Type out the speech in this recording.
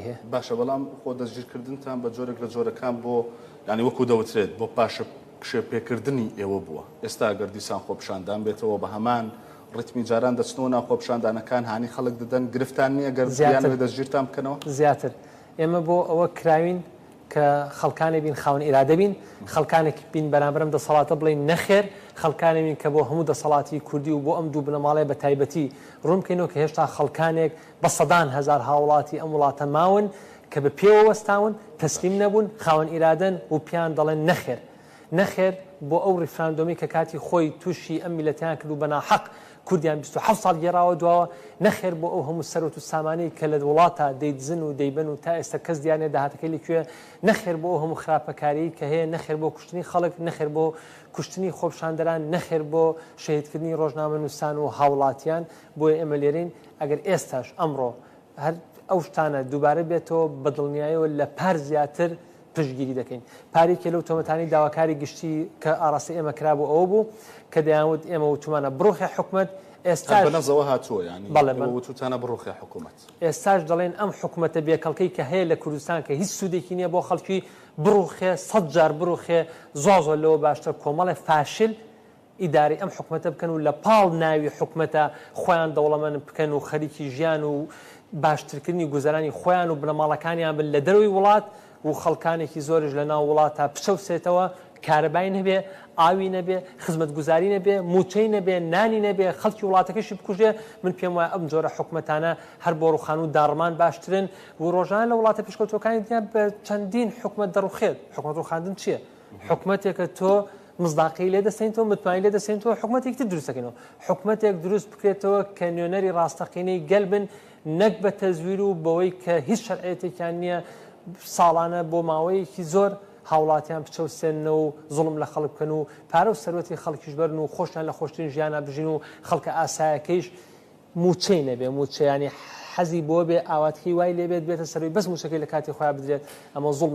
ئەبێ. باشە بەڵام خۆ دەستگیرکردنتان بە جۆرێک لە جۆرەکان بۆ یانی وەکو دەوترێت بۆ پاشە کشێ پێکردنی ئێوە بووە، ئێستا ئەگەر دیسان خۆپیشاندان بێتەوە بە هەمان ڕیتمی جاران دەچنەوە ناو خۆپیشاندانەکان هانی خەڵک دەدەن، گرفتان نییە گەر بیانەوێت دەستگیرتان بکەنەوە؟ زیاتر، ئێمە بۆ ئەوە کراوین کە خەڵکانێک بین خاوەن ئیرادە بین، خەڵکانێک بین بەرامبەر ئەم دەسەڵاتە بڵێین نەخێر، خەڵکانێک بین کە بۆ هەموو دەسەڵاتی کوردی و بۆ ئەم دوو بنەماڵەیە بە تایبەتی ڕوون بکەینەوە کە هێشتا خەڵکانێک بە سەدان هەزار هاوڵاتی ئەم وڵاتە ماون کە بە پێوە وەستاون، تەسلیم نەبوون، خاوەن ئیرادەن و پێیان دەڵێن نەخێر. نەخێر بۆ ئەو ڕیفراندۆمی کە کاتی خۆی تووشی ئەم میللەتەیان کرد و بە ناحەق کوردیان بیست و حەوت ساڵ گێڕاوە دواوە، نەخێر بۆ ئەو هەموو سەروەت و سامانەی کە لە وڵاتا دەیدزن و دەیبەن و تا ئێستا کەس دیار نیە داهاتەکەی لە کوێیە، نەخێر بۆ ئەو هەموو خراپەکاریەی کە هەیە، نەخێر بۆ کوشتنی خەڵک، نەخێر بۆ کوشتنی خۆپشاندەران، نەخێر بۆ شەهیدکردنی ڕۆژنامەنووسان و هاوڵاتیان، بۆیە ئێمە لێرەین. ئەگەر ئێستاش، ئەمڕۆ، هەر ئەو شتانە دووبارە بێتەوە، بە دڵنیایەوە لە پار زیاتر پشتگیری دەکەین. پار یەکێ لەو تۆمەتانەی داواکاری گشتی کە ئاڕاستەی ئێمە کرابوو ئەوە بوو کە دەیانوت ئێمە وتومانە بڕوخێ حکومەت، هەر بە ئێستاش، نەزەوە هاتووە یانی بەڵێ، ئێوە بەن، وتوتانە بڕوخێ حکومەت. ئێستاش دەڵێین ئەم حکومەتە بێ کەڵکەی کە هەیە لە کوردستان کە هیچ سوودێکی نییە بۆ خەڵکی، بڕوخێ، سەد جار بڕوخێ، زۆر زۆر لەوە باشترە کۆمەڵێ فاشل ئیدارەی ئەم حکومەتە بکەن و لە پاڵ ناوی حکومەتە خۆیان دەوڵەمەن بکەن و خەریکی ژیان و باشترکردنی گوزەرانی خۆیان و بنەماڵەکانیان بن لە دەرەوەی وڵات و خەڵکانێکی زۆریش لە ناو وڵاتا بچەوسێتەوە کارەبای نەبێ، ئاوی نەبێ، خزمەتگوزاری نەبێ، مووچەی نەبێ، نانی نەبێ، خەڵکی وڵاتەکەشی بکوژێ، من پێم وایە ئەم جۆرە حکومەتانە هەر بۆ ڕوخان و داڕمان باشترن و ڕۆژانە لە وڵاتە پێشکەوتووەکانی دنیا بە چەندین حکومەت دەڕوخێت، حکومەت ڕوخاندن چییە؟ حکومەتێکە تۆ مزداقی لێ دەسێنەوە متمای لێ دەسێنەوە حکوومەتێک تر دروستەکەنەوە حکوومەتێک دروست بکرێتەوە کە نوێنەری ڕاستەقینەی گەل بن نەک بە تەزویر و بەوەی کە هیچ شەرعەتێکیان نییە ساڵانە بۆ ماوەیەکی زۆر هاوڵاتیان بچەوسێنەوە و زڵم لە خەڵک بکەن و پارە و سەروەتی خەڵکیش بەرن و خۆشیان لە خۆشترین ژیانە بژین و خەڵکە ئاسایەکەیش موچەی نەبێ موچەیانی حەزی بۆ بێ ئاواتکی وای لێبێت بێتە سەروی بەس موچەکەی لە کاتی خۆیان بدرێت ئەمە زڵمە